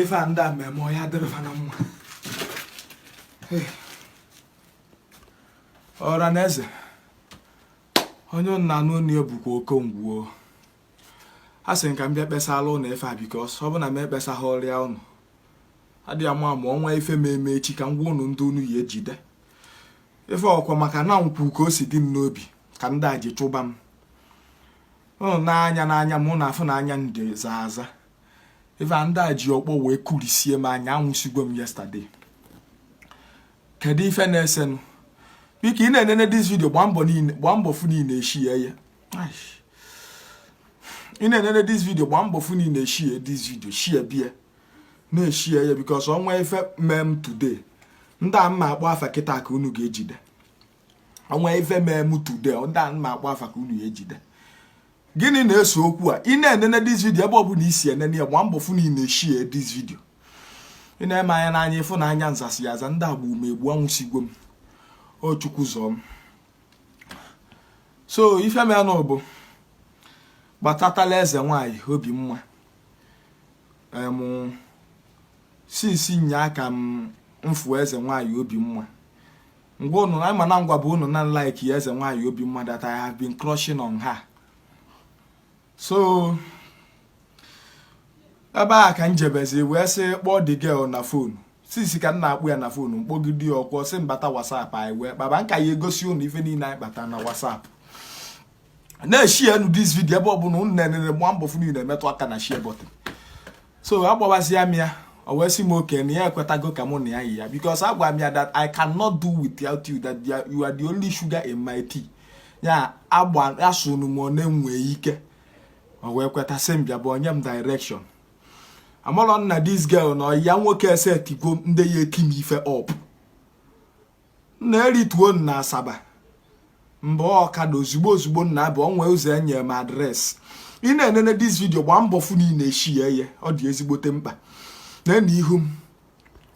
ife a ndị a mee m ọ ya-adịrị fa na mma ọra na eze onye ị na-anụ ọnụ ya bụkwa okongwu a sị m ka m bịa kpesara ụnụ ife a because ọ bụ na m ekpesaghị ọrịa ụnụ adị ya mma ma o nwee ife m eme echi ka m gwa ụnụ ndị unu ya ejide ife ọkwa maka na m kwuo ka o si dị m n'obi ka ndị a ji chụba m ụnụ n'anya n'anya m ụnụ afụ na anya m zaa aza ife a ndị a ji ọkpọ wee kurisie m anya anwụsigo m yesterday kedu ife na-esenụ biko ị na-enene this video gbaa mbọ fụ na ị na-eshare ya ị na-enene this video gbaa mbọ fụ na ị na-eshare this video shareba ya na-eshare ya because o nwee ife mee m today ndị a m ma-akpọ afa kịta ka unu ga-ejide o nwee ife mee m today ndị a m ma-akpọ afa ka unu ga-ejide gịnị na-ese okwu a ị na-enene this video ebe ọ bụla ị si enene ya gbaa mbọ fụ na ị na-eshare this video nee m anya n'anya ị fụ na anya m zasịa aza ndị a egbuo m egbu anwụsigwo m o chukwu zọọ m so ife meenụ bụ gbatatala eze nwanyị obi mma since nyaa ka m fụ eze nwanyị obi mma ngwa unu na-ama na m gwabu unu na m like eze nwanyị obi mma that I have been crushing on her so ebe a ka m jebezi wee sị kpọọ the girl na phone since ka m na-akpọ ya na phone m kpọgide ya o kwuo sị m bata whatsapp anyị wee kpaba m ka ya-egosi ụnụ ife niile anyị kpata na whatsapp na-eshare nụ this video ebe ọbụla ụnụ na-enene gba mbọ fụ na ụnụ na-emetụ aka na share button so agbawazia m ya o wee sị m okay na ya ekwetago ka mụ na ya yi ya because agwa m ya that I cannot do without you that you are the only sugar in my tea ya agba asụ n'ọnụ m na-enwe ike o wee kweta sị m bịa bunye m direction amarọ m na this girl na ọyị ya nwoke esetigo ndị ya eti m ife up m na-erituo na asaba m baa ọkada ozugbo ozugbo nna abụ onwe ụzọ enye m address ị na-enene this video gbaa mbọ fụ na ị na-eshare ya ọ dị ezigbote mkpa nene ihu m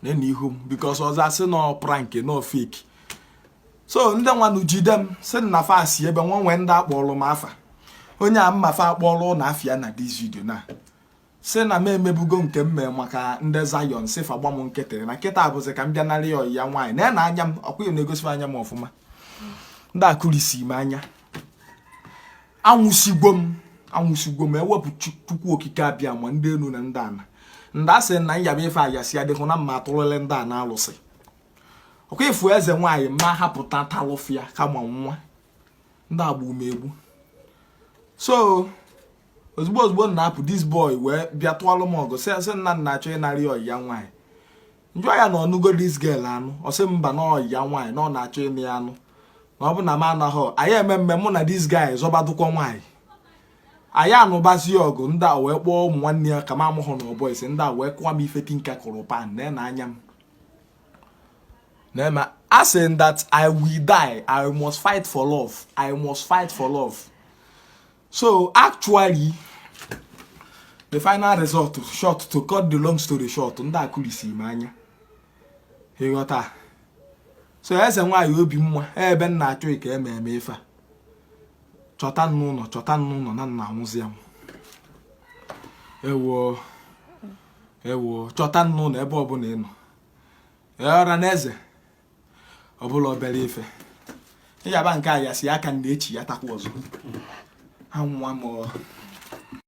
neenụ ihu m because ọzọ a sị na ọ prank na ọ fake so ndị nwanụ jide m si na fa si ebe nwa nwee ndị akpọrọ m afa onye a m ma afa kpọrọ ụnụ afa ya na this video na si na m emebugo nke m mee maka ndị zion si fa gba m nkịtị na kịta abụzi ka m bịa nara ya nwaanyị na ya na anya m ọkwa na-egosi anya m ọfụma ndị akụrisi m anya anwụsigwo m anwụsigwo m ewepụ chukwu okike abịama ndị enu na ndị ana ndị a sị na nyaba ife ayasị adịghị na mma atụrụle ndị a na-alụsị ọkwa ịfụ eze nwaanyị ma hapụta talụfịa kama nwa ndị agba umegbu so ozigbo ozigbo m na-apụ this boy wee bịa tụọlụ m ọgụ sị na m na-achọ ịnara ọyị ya nwaanyị m jụọ ya na ọ nụgo this girl anụ ọ sị mba na ọyị ya nwaanyị na ọ na-achọ ịnụ ya anụ na ọ bụ na m anaghị anyị eme mme mụ na this guy zọbadụkwa nwaanyị anyị anụbazie ọgụ ndị a wee kpọọ ụmụ nwanne ya ka m amụhụ na ọbọ ise ndị a wee kụwa m ife tinka kụrụ pan na na anya m na-asị that i will die i must fight for love i must fight for love so actually the final result so to cut the long story short ndị a kulisi m anya ị ghọta so eze nwaanyị obi mma ebe m na-achọ ike eme eme ife a chọta n'ụnọ chọta n'ụnọ na m na-anwụzi anwụ ewo ewo chọta n'ụnọ ebe ọbụla ị nọ ọra na eze ọ bụla obere ife ị yaba nke a ya si aka na echi ya takwa ọzọ anwụwa m o